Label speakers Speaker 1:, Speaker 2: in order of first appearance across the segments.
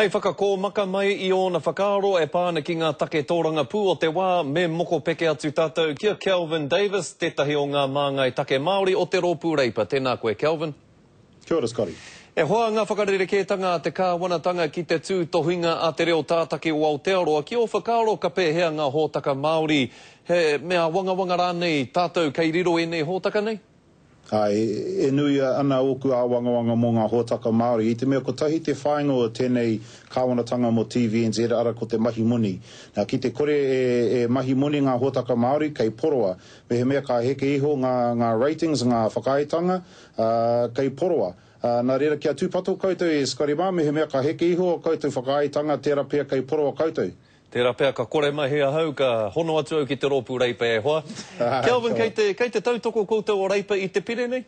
Speaker 1: Hei whakakōmaka mai i ōna whakaaro e pā ana ki ngā take tōrangapū o te wā, me mokopeke atu tātou ki a Kelvin Davis, tētahi o ngā māngai take Māori o te Rōpū Reipa. Tēnā koe, Kelvin. Kia ora, Scotty.
Speaker 2: E hoa ngā
Speaker 1: whakarerekētanga a te kāwanatanga ki te tūtohinga a te reo tātaki o Aotearoa. Ki ō whakaaro ka pēhea ngā hōtaka Māori, he me āwangawanga rānei tātou kei riro ēnei hōtaka nei? Āe,
Speaker 2: e nui ana ōku āwangawanga mō ngā hōtaka Māori. I te mea kotahi te whāinga o tēnei kāwanatanga mō TVNZ, arā, ko te mahi moni. Nā, ki te kore e mahi moni ngā hōtaka Māori, kei poroa. Mehemea ka heke iho ngā ratings, ngā whakaaetanga, ā, kei poroa. Ā, nā reira, kia tūpato koutou e Scotty mā, mehemea ka heke iho ō koutou whakaaetanga, tērā pea kei poroa koutou. Tērā pea ka kore
Speaker 1: mahi ahau, ka hono atu au ki te rōpū Reipa e hoa. Kelvin, kei te, kei te tautoko koutou o Reipa i te pire nei?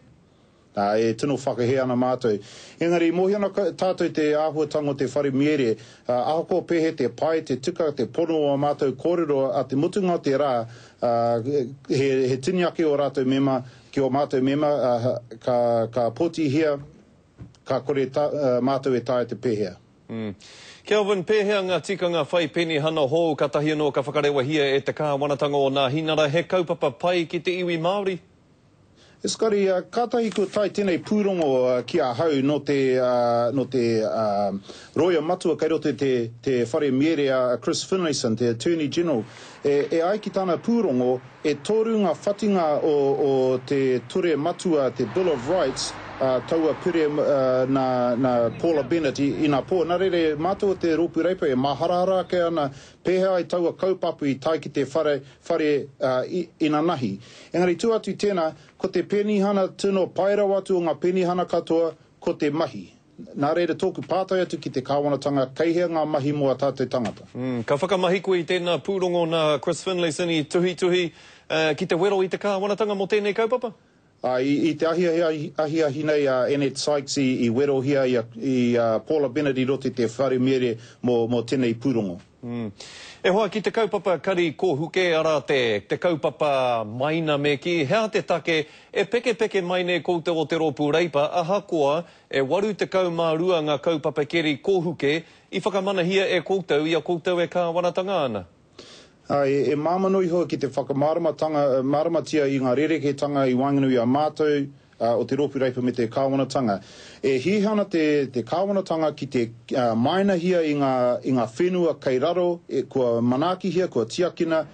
Speaker 1: Nā, e
Speaker 2: tino whakahē ana mātou. Engari, i mōhio ana tātou i te āhuatanga o te wharemiere, ā, ahakoa pēhea te pai, te tika, te pono o ā mātou kōrero ā te mutunga o te rā, ā, he, he tini ake ō rātou mema ki ō mātou mema, ā, ka, ka pōtihia, ka kore tā, ā, mātou e taea te pēhea. Umm. Kelvin,
Speaker 1: pēhea ngā tikanga whai penihana hou kātahi anō ka whakarewahia e te Kāwanatanga o Nāhinara he kaupapa pai ki te iwi Māori? Scotty,
Speaker 2: kātahi kua tae tēnei pūrongo ki ahau nō te nō te Roia Matua kei roto i te te Whare Mierea a Chris Finlayson, te Attorney General E ai ki tana pūrongo, e toru ngā whatinga o te Ture Matua, te Bill of Rights, ā, taua pire nā Paula Bennett inapō. Nā reira, e mātou o te Rōpū Reipa, e māharahara ake ana pēhea ai taua kaupapa i tae ki te whare inanahi. Engari tū atu i tēnā, ko te penihana tino pae rawa atu o ngā penihana katoa, ko te mahi. Nā reira tōku pātai atu ki te Kāwanatanga, kei hea ngā mahi mō ā tātou tangata? Ka whakamahi koe
Speaker 1: i tēnā pūrongo nā Chris Finlayson i tuhituhi ki te wero i te Kāwanatanga mō tēnei kaupapa? Āe, i te
Speaker 2: ahiahia ahiahi nei a Annette Sykes i werohia i a Paula Bennett i roto i te wharemiere mō tēnei pūrongo. E hoa
Speaker 1: ki te kaupapa kari kōhuke, arā te, te kaupapa maina me kī, he aha te take e pekepeke mai nei koutou o te rōpū Reipa ahakoa e 82 ngā kaupapa keri kōhuke i whakamanahia e koutou i a koutou e kāwanatanga ana? Āe, e
Speaker 2: māmano iho ki te whakamāramatia i ngā rerekētanga i waenganui i a mātou o te Rōpū Reipa me te Kāwanatanga. E hīhā ana te te Kāwanatanga ki te māenahia i ngā i ngā whenua kei raro kua manaakihia, kua tiakina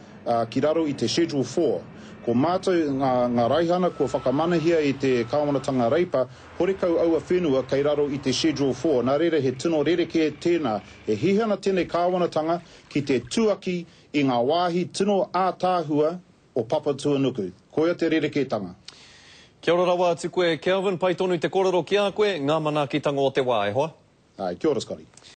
Speaker 2: ki raro i te Schedule Four. Ko mātou ngā ngā raihana kua whakamanahia e te Kāwanatanga Reipa, horekau aua whenua kei raro i te Schedule Four. Nā reira he tino rerekē tēnā. E hīhā ana tēnei Kāwanatanga ki te tuaki i ngā wāhi tino ātaahua o Papatuanuku. Koia te rerekētanga. Kia ora
Speaker 1: rawa atu koe Kelvin, pai tonu te korero
Speaker 2: ki
Speaker 1: a koe, nga manaakitango o
Speaker 2: te
Speaker 1: wa, e hoa. Ae,
Speaker 2: kia
Speaker 1: ora Scotty.